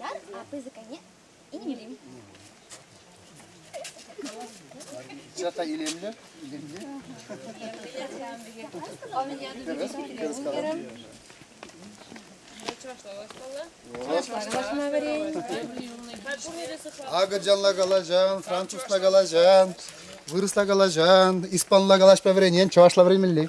Уяр, а пысӑк айне инелим. Цята илемле, илемле. Кырыс калам. Агыржанла калаҫан, французла калаҫан, вырӑсла калаҫан, испанла калаҫ по времени, чӑвашла времени.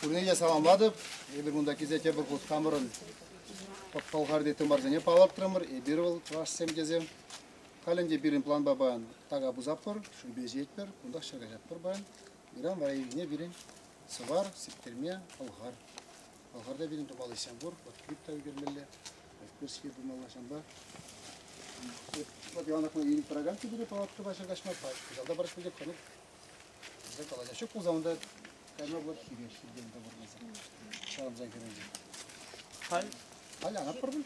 Пурне те саламлатӑп. Эпир кунта килсе тепӗр хут хамӑрӑн Пӑлхарти тымарсене палӑртрӑмӑр. Эпир вӑл чӑвашсем тесем. Халь ӗнтӗ пирӗн планпа паян така пусатпӑр, шӳпе ҫиетпӗр, кунтах ҫӗр каҫатпӑр паян. Ыран вара ирхине пирӗн Сӑвар, Сиктерме, Пӑлхар Пӑлхарта пирӗн тупалӑхсем пур. Вот клип та ӳкермелле, пирские пымалла ҫавӑнпа. Вот Иван Акман илет программ тепре палатка пача каҫма пач. Кӑҫалта парать пӗлтех тӑнӑк. Кӑҫал калаҫа ҫук пулса унта кайма вот хире хиртен тӑпӑртаса. Ҫавӑнса хирӗнче. Халь? Халь ана пӑр пуль?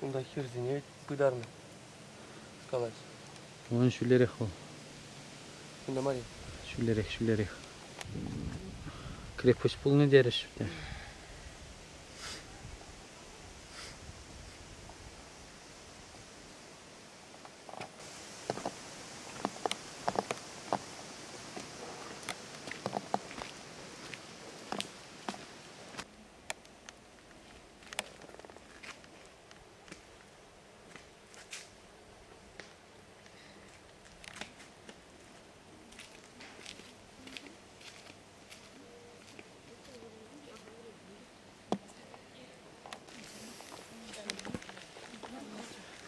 Унта хирсене пытарнӑ, калать. Унӑн ҫӳлерех вӑл. Кунта мар-и? Ҫӳлерех, ҫӳлерех. Крепость пулнӑ терӗҫ те.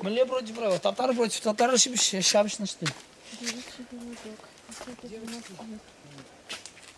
Мӗнле против правил? Татар против татар ҫыпҫӑ ҫапҫӑнӑҫ ты.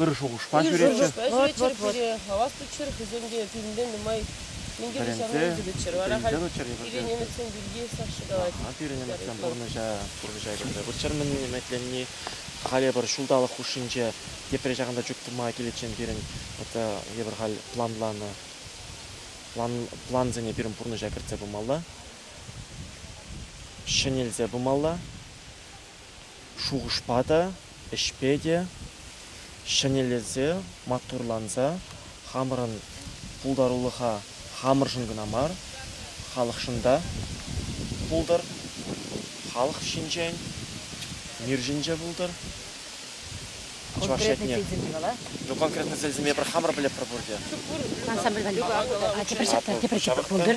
ыр шухӑшпа ҫӳретчӗ. Вот-вот-вот. пире хавас туччӑр, хӑйсем те пӳлне нумай минтере ҫавна ӳкӗтӗччӗр. Вара халь пире немӗтсем пирки сах шӑкалать. Пирӗн немӗтсем пурнӑҫа пурнӑҫа кӗрсе выртчӑр-мӗн немӗтленни. Халӗ пӗр ҫулталӑк хушшинче тепре ҫакӑнта чуптӑма киличчен пирӗн вот евӗр халь планланӑ плансене пирӗн пурнӑҫа кӗртсе пымалла, ҫӗнелсе пымалла. Шухӑшпа та, ӗҫпе те ҫӗнелесе, маттурланса хамӑрӑн пултарулӑха хамӑршӑн кӑна мар, халӑхшӑн та пултӑр, халӑх ҫинчен, мир ҫинче пултӑр. Чӑваш ятне. Ну, конкретно сӗлсеме пӗр хамӑр пӗлетпӗр пурте. Ансамбль валли. Тепӗр ҫакна, тепӗр ҫакна пултӑр.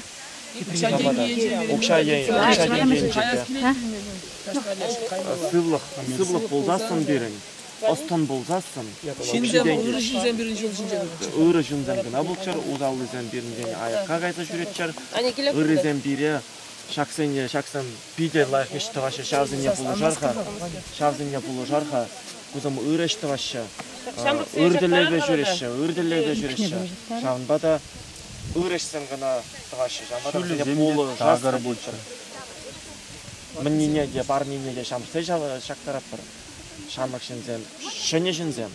Укҫа тенкийӗнче. Укҫа енче. Укҫа тенкийӗнче. Сывлӑх, сывлӑх пулсассӑн пирӗн, ӑс-тӑн пулсассӑн. Ҫынсем, ырӑ ҫынсем пирӗн ҫул ҫинче тӑраҫҫӗ. Ырӑ ҫынсем кӑна пулччӑр, усаллисем пирӗнтен аякка кайса ҫӳреччӗр. Ыррисем пире ҫаксене, ҫаксем питӗ лайӑх ӗҫ тӑваҫҫӗ, ҫавсене пулӑшар-ха, ҫавсене пулӑшар-ха. Кусем ырӑ ӗҫ тӑваҫҫӗ, ыр тӗллевпе ҫӳреҫҫӗ, ыр тӗллевпе ҫӳреҫҫӗ. Ҫавӑнпа та ырӑҫсем кӑна тӑваҫҫӗ. Ҫамрӑксене пулӑ, такӑр пулччӑр. Мӗннине те, парнене те ҫамсса ҫактаратпӑр. Ҫамрӑк ҫынсем, ҫӗнӗ ҫынсем.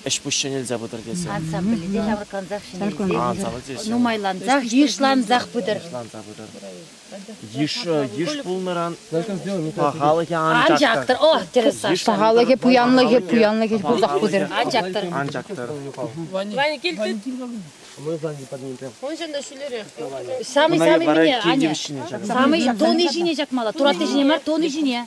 Ӗҫ-пуҫ ҫӗнелсе пытӑр тесен. Ансамбльте ҫаврӑнкансах ҫӗнелсе. Нумайлансах, йышлансах пытӑр. Йышланса пытӑр. Йыш пулнӑран пахалӑхӗ анчах тӑр. О, тӗрӗс. Пахалӑхӗ, пуянлӑхӗ, пуянлӑхӗ пусах пытӑр. Анчах тӑр. Анчах тӑр. Ванькил, Уншӑн та ҫӳлерех. Самый-самый вине, Аня. Самый дони ҫине чакмалла, туратти ҫине мар, дони ҫине.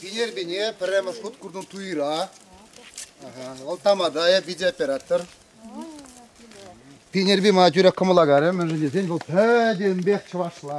Пинер-бине пӗрремӗш хут курнӑ туйра. Вӑл тамада питӗ оператор. Пинерби мана тӳрех кӑмӑла карӗ, мӗншӗн тесен вӑл пӗтӗмпех чӑвашла.